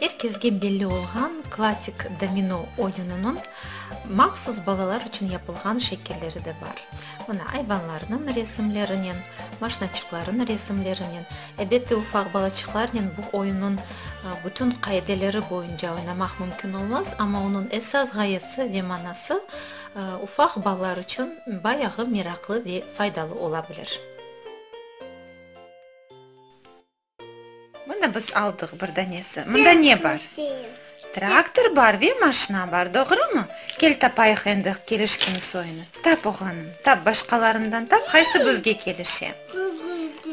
Er kezge belli olğan klassik domino oyunınıñ mahsus balalar içün yapılğan şekilleri de bar. Mına, ayvanlarnıñ resimlerinen, maşnaçıqlarnıñ resimlerinen. Elbette, ufaq balaçıqlarnen bu oyunnıñ bütün qaideleri boyunca oynamaq mümkün olmaz, amma onıñ esas ğayesi ve manası ufaq balalar içün bayağı meraqlı ve faydalı ola bilir. Mına biz aldıq bir danesi. Mında ne bar? Traktor bar ve maşna bar, doğrumı? Kel tapayıq endi kelişken soyunı. Tap, oğlanım, tap, başqalarından tap, qaysı bizge kelişe.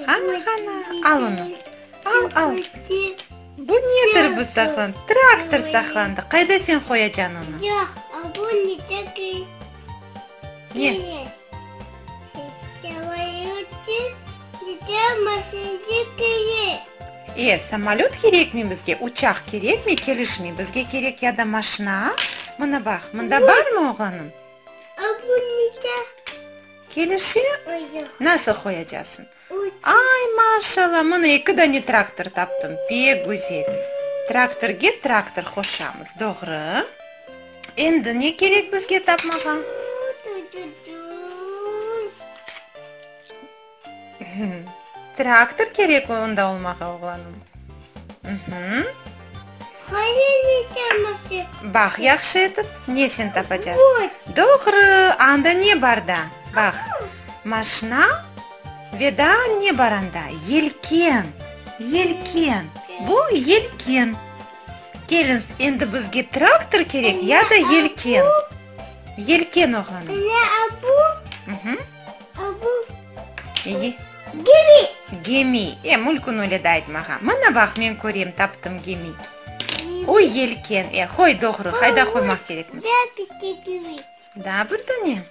Qana, qana, al onı, al, al. Bu nedir bu saqlan? Traktor saqlandı. Qayda sen qoyacan onı? Ne? Bizge maşinci kerek. E, samolöt kerekmi bizge, uçaq kerekmi, kelişmey. Bizge kerek ya da maşina, a? Mına baq, mında barmı, oğlanım? A, bu neçe? Kelişe? Nasıl qoyacaqsıñ? Ay, maşalla, mına eki dane traktor taptım, pek güzel. Traktorge traktor qoşamız, doğru. Endi ne kerek bizge tapmağa? Traktor kerek onda olmağa, oğlanım. Baq, yahşı etip, ne sen tapacaz? Doğru, anda ne bar da? Baq, maşna ve daa ne bar anda? Yelken, yelken, bu yelken. Kelins, endi bizge traktor kerek ya da yelken. Yelken, oğlanım. Bu gemi. Gemi. E, mülkün öyle de aytmağa. Mına baq, men körem, taptım, gemi. O, yelken. E, qoy, doğru. Qayda qoymaq kerekmiz? Da bitta gemi. Da bir dane?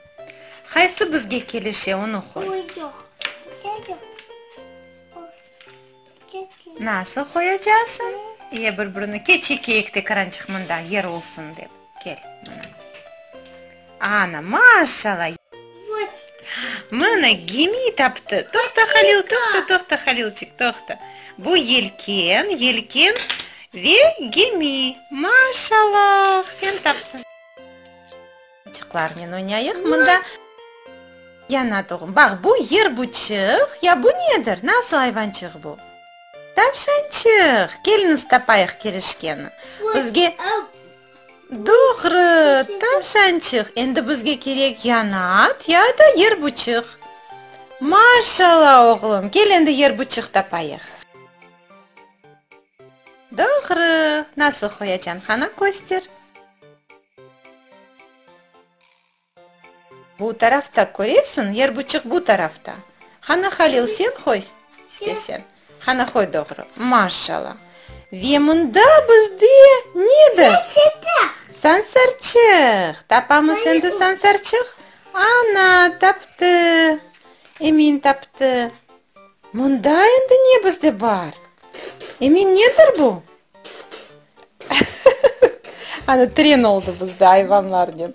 Qaysı bizge kelişe, onı qoy. Yoq, yoq. Nasıl qoyacaqsıñ? Ye, bir-birini ke, çekeyik de qırançıq mında, yer olsun dep. Kel, mına. Ana, maşşala! Mına, gemi taptı! Toqta, Halil, toqta, toqta, Halilçik, toqta! Bu yelken, yelken ve gemi! Maşşala! Sen taptıñ! Çıqlarnen oynayıq mında. Yana doğum. Baq, bu yer buçıq, ya bu nedir? Nasıl ayvançıq bu? Tavşançıq! Keliñiz tapayıq kelişkeni. Bizge, doğru, tavşançıq. Endi bizge kerek yana at ya da yer buçıq. Maşallah, oğlum! Kel endi yer buçıq tapayıq. Doğru! Nasıl Hoyacan? Qana köster. Bu tarafta köresiñ, yer buçıq bu tarafta. Hana Halil, sen qoy, işte sen. Hana qoy doğru. Maşala. Ve mında bizde nedir? Sansarçıq. Tapamız endi sansarçıq? Ana, taptı. Emin taptı. Mında endi ne bizde bar? Emin, nedir bu? Ana, tren oldı bizde ayvanlar dep.